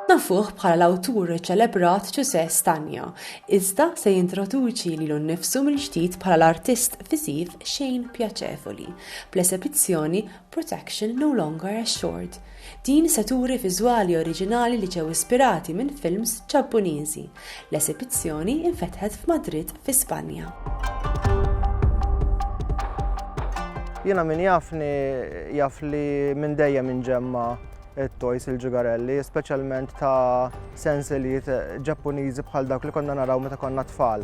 Nafuh bħala l-awtur ċelebrat Ġużè Stagno, iżda se jintroduċi lilu nnifsu mill-ġdid bħala l-artist viżiv Shane Piacevoli, bl-esebizzjoni Protection No Longer Assured, din se turi viżwali oriġinali li ġew ispirati minn films Ġappuniżi. L-esibizzjoni infetħet f'Madrid fi Spanja. Jiena min jafni jaf li minn dejjem inġemma it-toys il-ġugarelli, speċjalment ta' sensilijiet ġappuniżi bħal dawk li konna naraw meta konna tfal.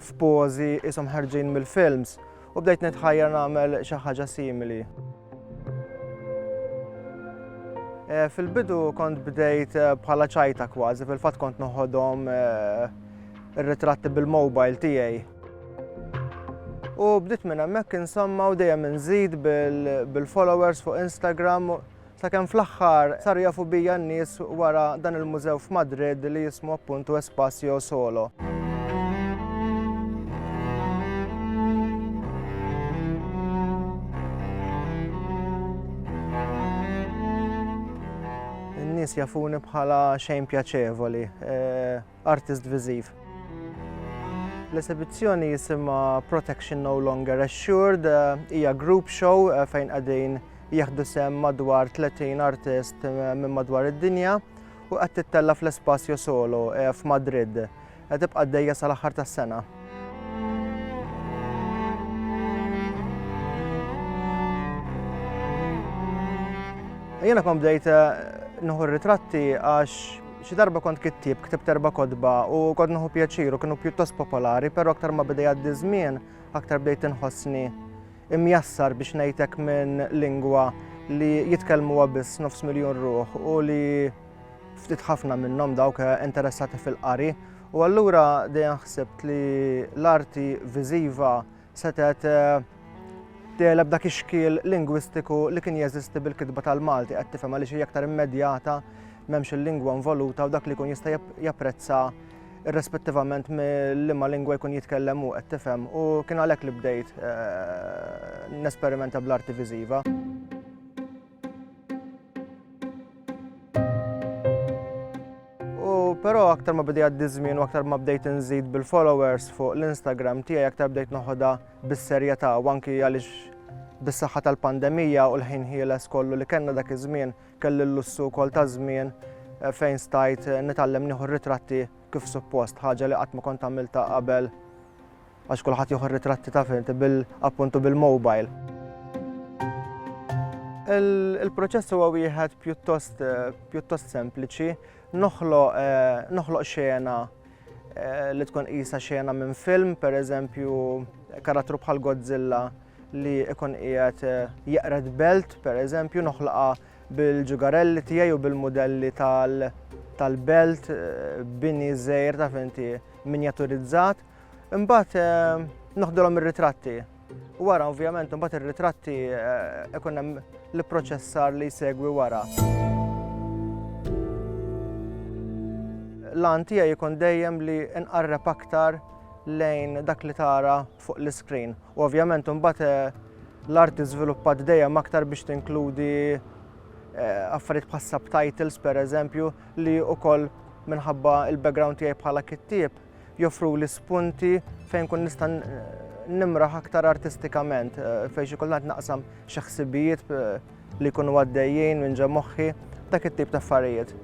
f'pożi qishom ħarġin mill-films u bdejt nitħajjar nagħmel xi ħaġa simili. Eh, fil-bidu kont bdejt eh, bħala ċajta kważi, fil-fatt kont noħodhom eh, ir-ritratti bil-mobile tiegħi. U bdiet minn hemmhekk insomma u dejjem inżid bil-followers fuq Instagram Sakemm fl-aħħar saru jafu bija n-nies wara dan il-mużew f'Madrid li jismu appuntu Espacio Solo. nies jafuni bħala xejn pjaċevoli. Eh, artist viżiv. L-esibizzjoni jisimha Protection No Longer Assured, hija group show eh, fejn qegħdin jieħdu sem madwar 30 artist eh, minn madwar id-dinja u qed tittella fl-Espacio Solo eh, f'Madrid. Qed tibqa' dejja sal-aħħar tas-sena. Jena kom bdejt eh, nħu ritratti għax Xi darba kont kittieb, ktibt erba' kotba u kont nieħu pjaċir u kienu pjuttost popolari, però aktar ma beda jgħaddi ż-żmien, aktar bdejt inħossni imjassar biex ngħid hekk minn lingwa li jitkellmuha biss nofs miljun ruħ u li ftit ħafna minnhom dawk interessati fil-qari. U allura dejjem ħsibt li l-arti viżiva setgħet tegħleb dak ix-xkiel lingwistiku li kien jeżisti bil-kitba tal-Malti qed tifhem għaliex hija aktar immedjata m'hemmx il-lingwa involuta u dak li jkun jista' japprezza irrespettivament mill-liema lingwa jkun jitkellem u qed tifhem u kien għalhekk li bdejt eh, nesperimenta bl-arti viżiva. Però aktar ma bidi għaddi żmien u aktar ma bdejt inżid bil-followers fuq l-Instagram tiegħi aktar bdejt noħodha bis-serjetà u anki għaliex bis-saħħa tal-pandemija u l-ħin ħieles kollu li kellna dak iż-żmien kelli l-lussu wkoll ta' żmien eh, fejn stajt eh, nitgħallem nieħu ritratti kif suppost, ħaġa li qatt ma kont għamilta qabel Għax kulħadd jieħu r-ritratti taf int bil appuntu bil-mobile. Il-proċess huwa wieħed pjuttost pjuttost sempliċi, noħloq noħloq xena li tkun qisha xena minn film, pereżempju karattru bħal Godzilla li ikun qiegħed jeqred belt, pereżempju noħlaqha bil-ġugarelli tiegħi u bil-modelli tal-belt, bini żgħir taf inti minjaturizzat. Imbagħad eh, noħdulhom ir-ritratti. Wara ovvjament imbagħad ir-ritratti eh, ikun hemm l-proċessar li jsegwi wara. L-għan tiegħi jkun dejjem li nqarreb aktar lejn dak li tara fuq l-iskrin. U ovvjament imbagħad eh, l-art iżviluppat dejjem aktar biex tinkludi affarijiet bħas subtitles per eżempju li wkoll minħabba il-background tiegħi bħala kittieb joffruli spunti fejn kun nista' nimraħ aktar artistikament, eh, fejn xi kultant naqsam xi ħsibijiet eh, li jkunu għaddejjin minn ġa moħħi, dak it-tip ta' affarijiet.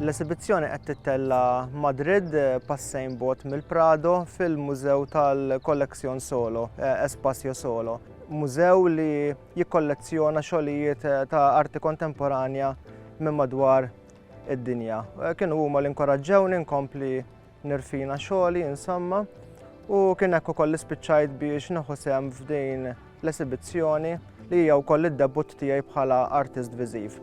L-esibizzjoni qed tittella Madrid eh, passejn bot mill-Prado fil-Mużew tal-Kollezzjon Solo, Espacio Solo. Mużew li jikkollezzjona xogħlijiet eh, ta' arti kontemporanja minn madwar id-dinja. Eh, kienu huma li inkoraġġewni nkompli nirfina xogħli insomma u kien hekk ukoll ispiċċajt biex naħu sem f'din l-esibizzjoni li hija wkoll id-debut tiegħi bħala artist viżiv.